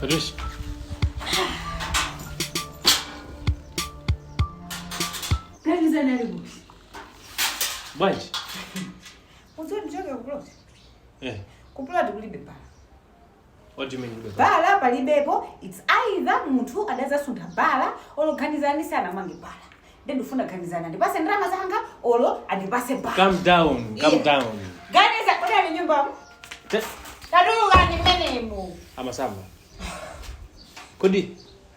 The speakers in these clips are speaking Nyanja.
Patrice. Ganizani ali kuti? Bwanji? Ine ndikuchoka kupuloti. Eh. Kupuloti kulibe bala. What do you mean kulibe bala? bala palibepo its either munthu adazasuntha bala olo ganizani sanamange bala nde ndifuna ganizani andipase ndalama zanga olo andipase bala Calm down, calm Yeah. down. Ganizani ali nyumbamo Te- tatulukani mmenemo amasamba kodi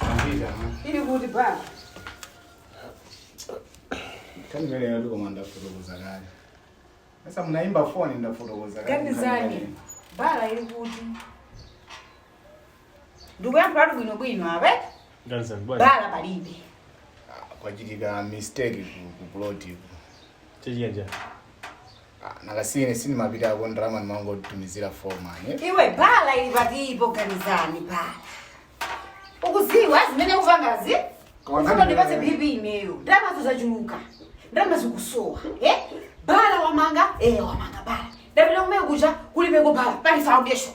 Ambira. Ili kuti baba. Kani mbele ya duko mwanda kutokoza gari. Sasa mnaimba phone nda kutokoza gari. Ganizani. Bala ili kuti. Ndugu yangu bado bwino bwino abe. Ganizani bwana. Bala palibe. Kwa ajili ya mistake ku plot. Chejanja. Ah, nanga si ine sindimapitako ndalama ndimangomutumizira fomani iwe bhala ili patiko ganizani bhala ukuziwa zimene ukupangazi Koma ufuna ngati- undipatse bp imeyo ndalamazo zachuluka ndalama zikusowa eh? bhala wamanga eh, wamanga bhala ndapita kumene kuja kulibeko bhala pali foundation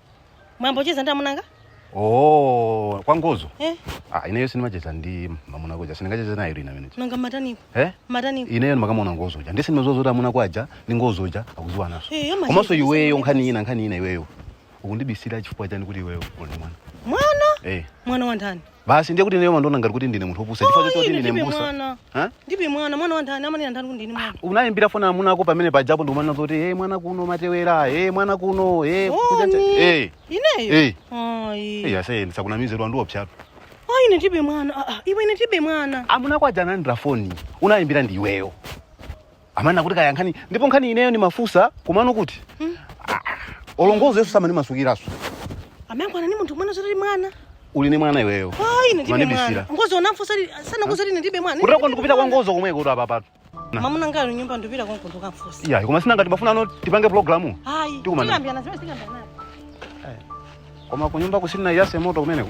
mumacheza ndi amunanga oh kwa ngozo eh ah ineyo sinimacheza ndi mamuna kuja sindingacheze nayo ina minute nanga mataniko eh mataniko ineyo ndikamamuona ngozo uja ndisi ndimadziwa zoti amuna ako aja ndi ngozo uja akuziwananso Eh, amacheza komanso ndi iweyo zimene- nkhani ina nkhani ina iweyo ukundibisira chifukwa chani kuti iweyo uli ndi mwana mwana eh mwana wa ndani basi ndiye kuti ineyo mumandiona ngati kuti ndine munthu opusa chifukwa choti kuti Ine ndine ndibe mbusa mwana Ha? ndibe mwana mwana wa ndani amanena ndani kuti ndine mwana unayimbira foni amuna ako pamene pajapo ndikumanena zoti hey, mwana kuno matewera hey, mwana kuno hey, kutchanja- Oni. hey. ineyo Hey. ayi Hey, ase ndisakunamizire wandiwopsyatu ayi ine ndibe mwana Ah, ah, iwe ine ndibe mwana amuna ako aja analandira foni unayimbira ndi iweyo amanena kuti kaya nkhani ndipo nkhani ineyo ndimafusa komano kuti Ah, olongozo yesu samandimasukiranso amangoona ni munthu umene zoti ali mwana uli ni mwana iweyo ayi ine ndibe Mumanibisira. mwana ngozo ndamfunsa masana ngozo ine ndibe mwana kuteroko ndikupita kwa ngozo komweko kuti apapatu mamuna wanga ali m'nyumba ndipita konko ndokamfusa iya koma si nanga timafunano tipange programu ayi Tikumana. tikambirana zimene tikambirana koma kunyumba kusanayake moto kumeneko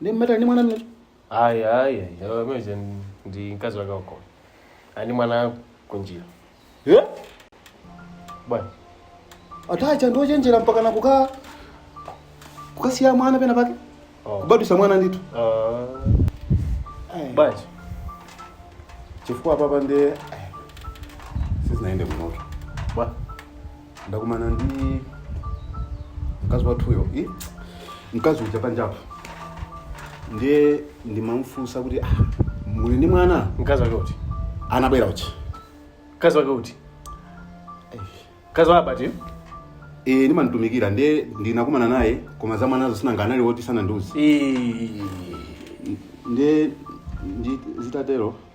ndi mmata ndi mwana mnacho ayi ayi ameze ndi mkazi wake wako ali ndi mwana kunjira eh bwana aPatricia ndi ochenjera mpaka na kuka kukasiya mwana pena pake oh. kubadwisa mwana ndithu Ah, Ai. bwana chifukwa apapa nde sizinayende munotu bwana ndakumana ndi mkazi wathuyo i mkazi uja panjapa ndiye ndimamfunsa kuti ah, muli ndi mwana mkazi wake uti anabwera uja mkazi wake uti mkazi wa abati e, ndimamutumikira ndiye ndinakumana naye koma za mwanazo si nanga anali woti sanandiuze Ii. ndiye ndi- zitatero